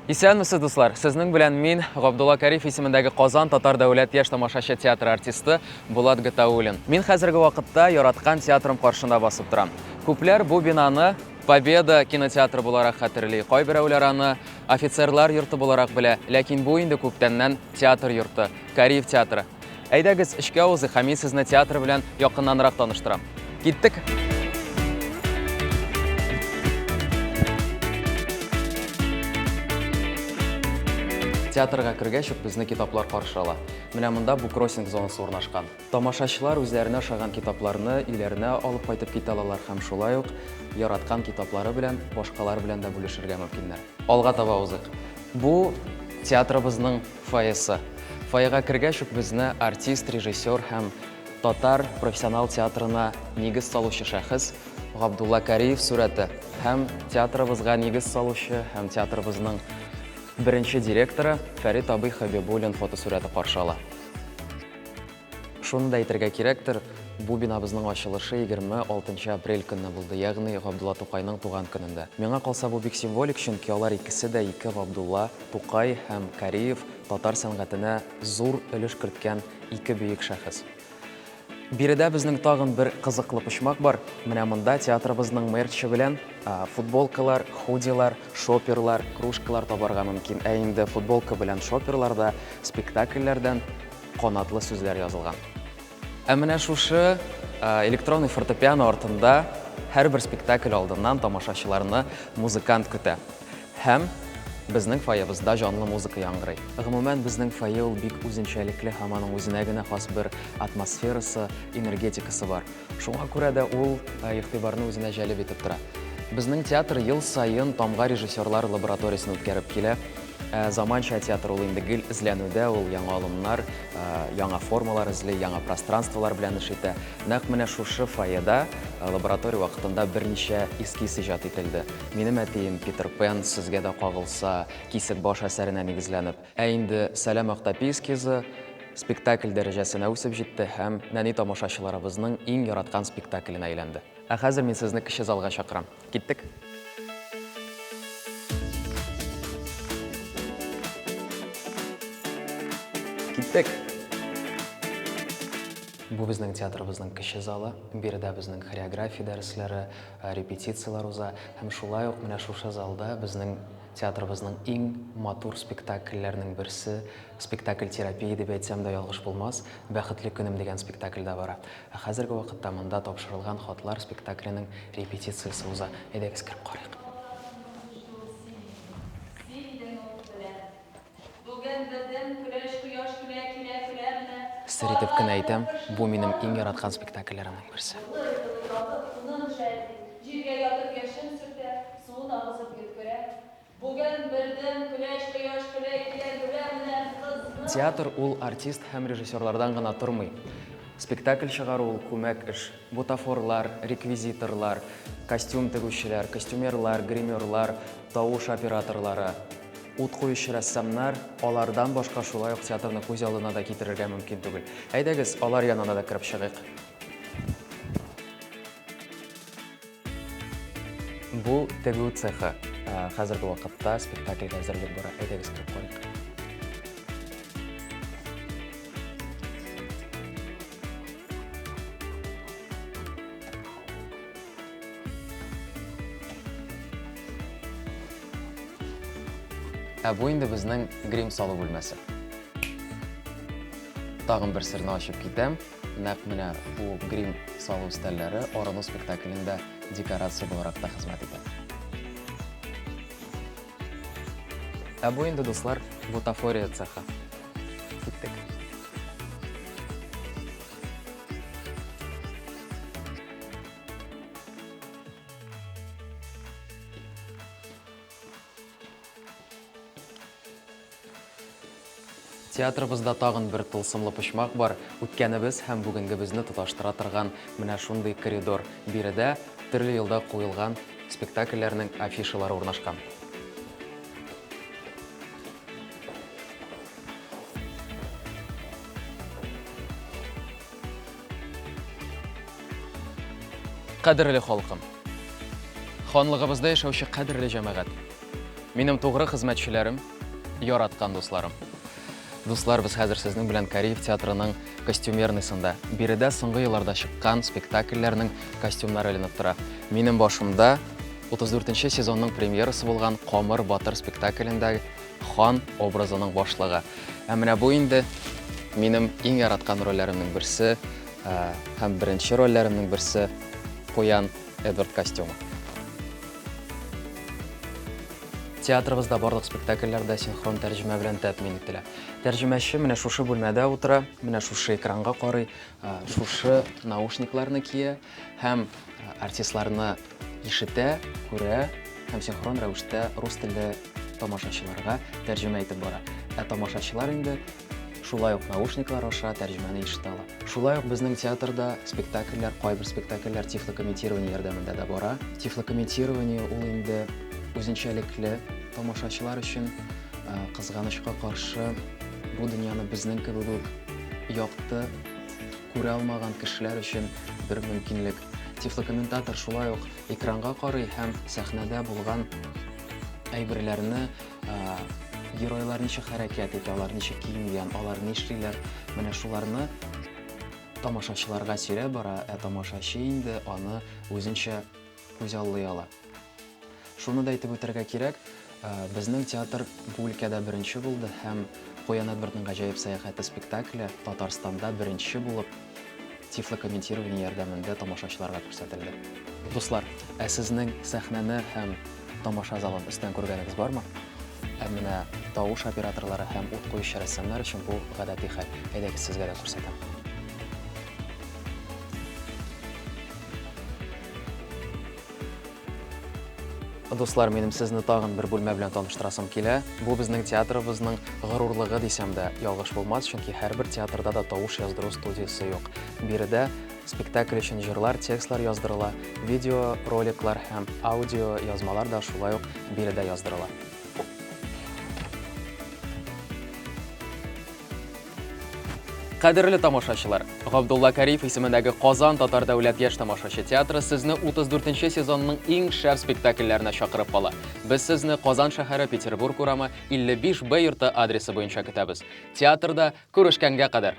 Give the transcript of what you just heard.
Исәнмесез, дуслар! Сезнең белән мин, Габдулла Кариф исемендәге Казан татар дәүләт яшь тамашачы театры артисты Булат Гатауллин. Мин хәзерге вакытта яраткан театрым каршында басып торам. Күпләр бу бинаны Победа кинотеатры буларак хәтерли, кайберәүләр аны офицерлар йорты буларак белә, ләкин бу инде күптәннән театр йорты, Кариев театры. Әйдәгез, эчкә узыйк, һәм мин сезне театр белән якыннанрак таныштырам. Киттек! Театрга кергәч үк безне китаплар каршы ала. Менә монда буккроссинг зонасы урнашкан. Тамашачылар үзләренә ошаган китапларны өйләренә алып кайтып китә алалар һәм шулай ук яраткан китаплары белән башкалар белән дә бүлешергә мөмкиннәр. Алга таба узыйк. Бу театрыбызның Фойесы. Фойега кергәч үк безне артист, режиссер һәм татар профессионал театрына нигез салучы шәхес Габдулла Кариев сурәте һәм театрыбызга нигез салучы һәм театрыбызның беренче директоры Фәрит абый Хәбибуллин фотосурәте каршы ала. Шуны да әйтергә кирәктер, бу бинабызның ачылышы 26 апрель көнне булды, ягъни Габдулла Тукайның туган көнендә. Миңа калса, бу бик символик, чөнки алар икесе дә, ике Габдулла, Тукай һәм Кариев, татар сәнгатенә зур өлеш керткән ике бөек шәхес. Биредә безнең тагын бер кызыклы почмак бар. Менә монда театрыбызның мерчы белән футболкалар, худилар, шоперлар, кружкалар табарга мөмкин. Ә инде футболка белән шоперларда спектакльләрдән канатлы сүзләр язылган. Ә менә шушы электронный фортепиано артында һәрбер спектакль алдыннан тамашачыларны музыкант көтә. Һәм безнең фойебызда җанлы музыка яңгырый. Гомумән, безнең фойе ул бик үзенчәлекле һәм аның үзенә генә хас бер атмосферасы, энергетикасы бар. Шуңа күрә дә ул игътибарны үзенә җәлеп итеп тора. Безнең театр ел саен Тамга режиссерлар лабораториясен үткәреп килә. Ә заманча театр ул инде гел эзләнүдә, ул яңа алымнар, ә, яңа формалар эзли, яңа пространстволар белән эш итә. Нәкъ менә шушы фойеда ә, лаборатория вакытында берничә эскиз иҗат ителде. Минем әтием Питер Пен, Сезгә дә кагылса, Кисек баш әсәренә нигезләнеп. Ә инде Сәлам Актапи эскизы спектакль дәрәҗәсенә үсеп җитте һәм нәни тамашачыларыбызның иң яраткан спектакленә әйләнде. Ә хәзер мин сезне кече залга чакырам. Киттек. Киттек. Бу безнең театрыбызның кече залы. Биредә безнең хореография дәресләре, э, репетицияләр уза. Һәм шулай ук менә шушы залда безнең театрыбызның иң матур спектакльләрнең берсе, спектакль терапия дип әйтсәм дә ялгыш булмас, Бәхетле көнем дигән спектакль дә бара. Ә хәзерге вакытта монда Тапшырылган хатлар спектакленең репетициясе уза. Әйдәгез, кереп карыйк. Сер итеп кенә әйтәм, бу минем иң яраткан спектакльләремнең берсе. Бүген бердәм көләч кояш көлә килә Көлә менә кызны. Театр ул артист һәм режиссерлардан гына тормый. Спектакль чыгару ул күмәк эш. Бутафорлар, реквизиторлар, костюм тегүчеләр, костюмерлар, гримерлар, тавыш операторлары, ут куючы рәссамнар, алардан башка шулай ук театрны күз алдына да китерергә мөмкин түгел. Әйдәгез, алар янына да кереп чыгыйк. Бу тегү цехы. Хәзерге вакытта спектакльгә әзерлек бара. Әйдәгез кереп карыйк. Ә бу инде безнең грим салу бүлмәсе. Тагын бер серне ачып китәм. Нәкъ менә бу грим салу өстәлләре Орыну спектаклендә декорация буларак та хезмәт итә. Ә бу инде, дуслар, бутафория цехы. Киттек. Театрыбызда тагын бер тылсымлы почмак бар, үткәнебез һәм бүгенгебезне тоташтыра торган менә шундый коридор. Биредә төрле елда куелган спектакльләрнең афишалары урнашкан. Кадерле халкым! Ханлыгыбызда яшәүче кадерле җәмәгать! Минем тугры хезмәтчеләрем, яраткан дусларым. Дуслар, без хәзер сезнең белән Кариев театрының костюмерныйсында. Биредә соңгы елларда чыккан спектакльләрнең костюмнары эленеп тора. Минем башымда 34-нче сезонның премьерасы булган Камыр батыр спектаклендә хан образының башлыгы. Ә менә бу инде минем иң яраткан рольләремнең берсе, һәм беренче рольләремнең берсе Куян Эдвард костюмы. Театрыбызда барлык спектакльләрдә синхрон тәрҗемә белән тәэмин ителә. Тәрҗемәче менә шушы бүлмәдә утыра, менә шушы экранга карый, шушы наушникларны кия һәм артистларны ишетә, күрә һәм синхрон рәвештә рус телле тамашачыларга тәрҗемә итеп бара. Ә тамашачылар инде Шулай ук наушниклар аша тәрҗемәне ишетә ала. Шулай ук безнең театрда спектакльләр, кайбер спектакльләр тифлокомментирование ярдәмендә дә бара. Тифлокомментирование ул инде үзенчәлекле тамашачылар өчен э, кызганычка каршы бу дөньяны безнең кебек үк якты күрә алмаган кешеләр өчен бер мөмкинлек. Тифлокомментатор шулай ук экранга карый һәм сәхнәдә булган әйберләрне Геройлар ничек хәрәкәт итә, алар ничек киенгән, алар нишлиләр, менә шуларны тамашачыларга сөйрәп бара, ә тамашачы инде аны үзенчә күзаллый ала. Шуны да әйтеп үтәргә кирәк, безнең театр бу өлкәдә беренче булды һәм Куян Эдвардның гаҗәеп сәяхәте спектакле Татарстанда беренче булып Тифлокомментирование ярдәмендә тамашачыларга күрсәтелде. Дуслар, ә сезнең сәхнәне һәм тамаша залын өстән күргәнегез бармы? Ә менә тавыш операторлары һәм ут куючы рәссамнар өчен бу гадәти хәл. Әйдәгез, сезгә дә күрсәтәм. Дуслар, минем сезне тагын бер бүлмә белән таныштырасым килә. Бу безнең театрыбызның горурлыгы дисәм дә ялгыш булмас, чөнки һәрбер театрда да тавыш яздыру студиясе юк. Биредә спектакль өчен җырлар, текстлар яздырыла, видео, роликлар һәм аудио язмалар да шулай ук биредә яздырыла. Кадерле тамашачылар, Габдулла Кариев исемендәге Казан татар дәүләт яшь тамашачы театры сезне 34 нче сезонның иң шәп спектакльләренә чакырып кала. Без сезне Казан шәһәре Петербург урамы 55 Б йорты адресы буенча көтәбез. Театрда күрешкәнгә кадәр!